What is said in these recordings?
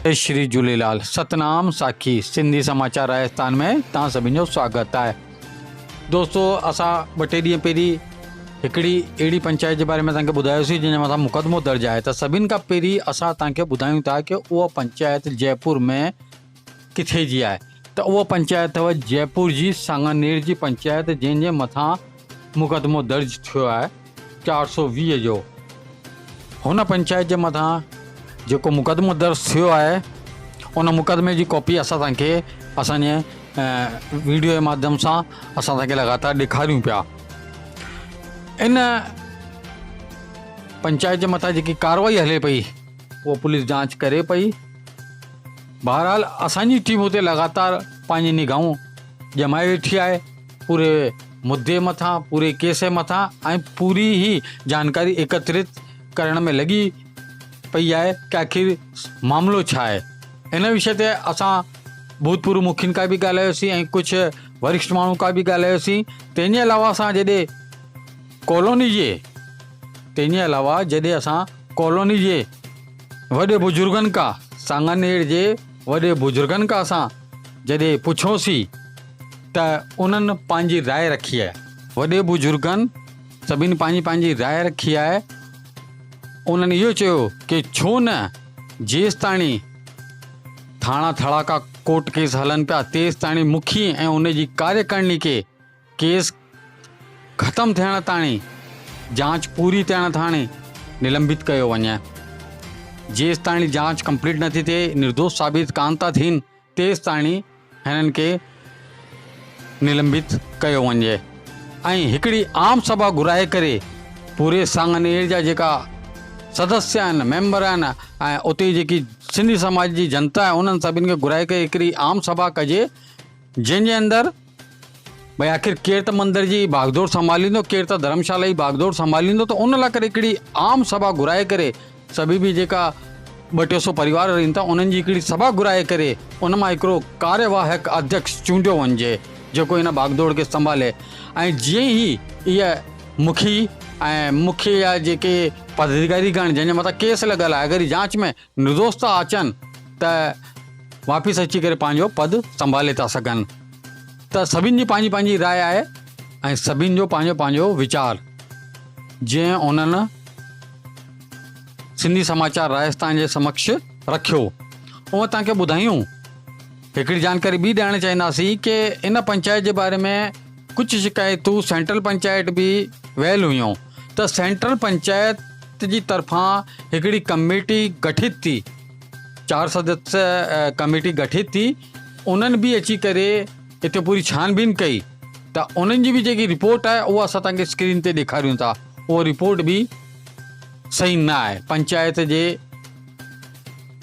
جي شري جهوليلال ستنام ساکي سنڌي سماچار راجستان ۾ توهان سڀني جو سواگت آهي دوستو اسان ٻه ٽي ڏينهن پهرين هڪڙي اهڙي پنچائت جي باري ۾ توهان کي ٻڌايوسي جنهن جي مٿان مقدمو درج آهي ته سڀني کان پهرين اسان توهان کي ٻڌايون ٿا ته اها پنچائت جيپور ۾ ڪٿي جي آهي ته اها پنچائت اٿو جئپور جي سانگانير جي پنچائت جنهن جي مٿان مقدمو درج ٿيو آهي چار سؤ ويهه جو هن پنچائت جي مٿان جيڪو مقدمو درج ٿيو آهي ان مقدمي جي ڪاپي اسان توهان کي اسان جي ويڊيو جي مادھيم سان اسان توهان کي لڳاتار ڏيکاريون پيا ان پنچائت جي مٿان جيڪي ڪارروائي هلي پئي اها پوليس جانچ ڪري پئي بهرحال اسان جي ٽيم اتي لڳاتار پنهنجي نگاهون ڄمائي ويٺي آهي پوري مدي مٿان پوري ڪيس مٿان ۽ پوري هي جانڪاري ايڪترت ڪرڻ ۾ لڳي پئي آهي ته آخر معاملو ڇا آهي ان وشي تي اسان ڀوتپورو مکين کان به ڳالهايوسين ۽ ڪجهه ورشٽ ماڻهن کان به ڳالهايوسين تنهن جي علاوه اسان جڏهن ڪالوني جي تنهن جي علاوه جڏهن اسان ڪالوني جي وڏي بزرگن کا، سانگانير جي وڏي بزرگن کا سان جڏهن پڇيوسين ته انهن پنهنجي راء رکي آهي. وڏي بزرگن سڀني پنهنجي پنهنجي راء رکي آهي. انهن اهو چيو ڪي ڇو نه جيستاڻي ٿاڻا ٿڙاڪا ڪورٽ ڪيس هلن پيا تيستاڻي مکي ۽ ان جي ڪاريڪرڻي کي ڪيس ختم ٿيڻ تاڻي جاچ پوري ٿيڻ تاڻي نلمبت ڪيو وڃي. جيستاڻي جاچ ڪمپليٽ نٿي ٿئي، نردوش ثابت ڪانه ٿا ٿين، تيستاڻي هنن کي نلمبت ڪيو وڃي ۽ هڪڙي عام سڀا گهرائي ڪري پوري سانگنير جا جيڪا سدسيه آهن، ميمبر آهن ۽ اتي جيڪي سنڌي سماج جي جنتا آهي انهن سڀن کي گهرائي ڪري هڪڙي عام سڀا ڪجي جنهن جي اندر ڀاء آخر ڪير ته مندر جي باگدور سنڀاليندو ڪير ته ڌرمشالا جي باگدور سنڀاليندو ته ان لاء ڪري هڪڙي عام سڀا گهرائي ڪري سڀي به جيڪا ٻه ٽي سو پريوار رهن ٿا انهن جي هڪڙي سڀا گهرائي ڪري ان مان هڪڙو ڪاريواهڪ اڌيڪس چونڊيو وڃجي جيڪو هن باگدور کي سنڀالي ۽ جيئن هي اهي مکي ۽ مکي جا جيڪي پداديڪاري ڪرڻ جنهن جي مٿان ڪيس لڳل آهي اگر هي جانچ ۾ نردوست ٿا اچن ته واپس اچي ڪري پنهنجو پد سنڀالي ٿا سگهن ته سڀن جي پنهنجي پنهنجي راء آهي ۽ سڀن جو پنهنجو پنهنجو ويچار جنهن انهن سنڌيسماءچار راجسٿان جي سمڪش رکيو اوهان توهان کي ٻڌايون هڪڙي جانڪاري ٻي ڏيارڻ چاهينداسين ڪي ان پنچائت جي باري ۾ ڪجهه شڪايتون سينٽرل پنچائت به ويل هيون ته سينٽرل پنچائت جي طرفان هڪڙي ڪميٽي گٺت ٿي چار سدسيه ڪميٽي گٺت ٿي انهن به اچي ڪري هتي پوري ڇانبين ڪئي ته انهن جي به جيڪي رپورٽ آهي اها اسان تنهنکي اسڪرين تي ڏيکاريون ٿا اها رپورٽ به صحيح نه آهي پنچائت جي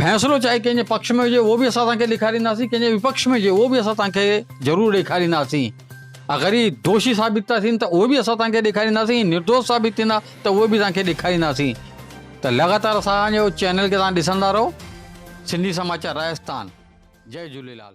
فيصلو چاهي ڪنهن جي پڪش ۾ هجي اهو به اسان توهانکي ڏيکارينداسين ڪنهن جي وپڪش ۾ هجي اهو به اسان توهانکي ضرور ڏيکارينداسين اگر هي دوشي ثابت ٿا ٿين ته اهو به اسان توهانکي ڏيکارينداسين هي نردوش ثابت ٿيندا ته اهو به توهانکي ڏيکارينداسين ته لڳاتار اسان جو چينل کي توهان ڏسندا رهو سنڌي سماچار راجستان جئي جهوليلال.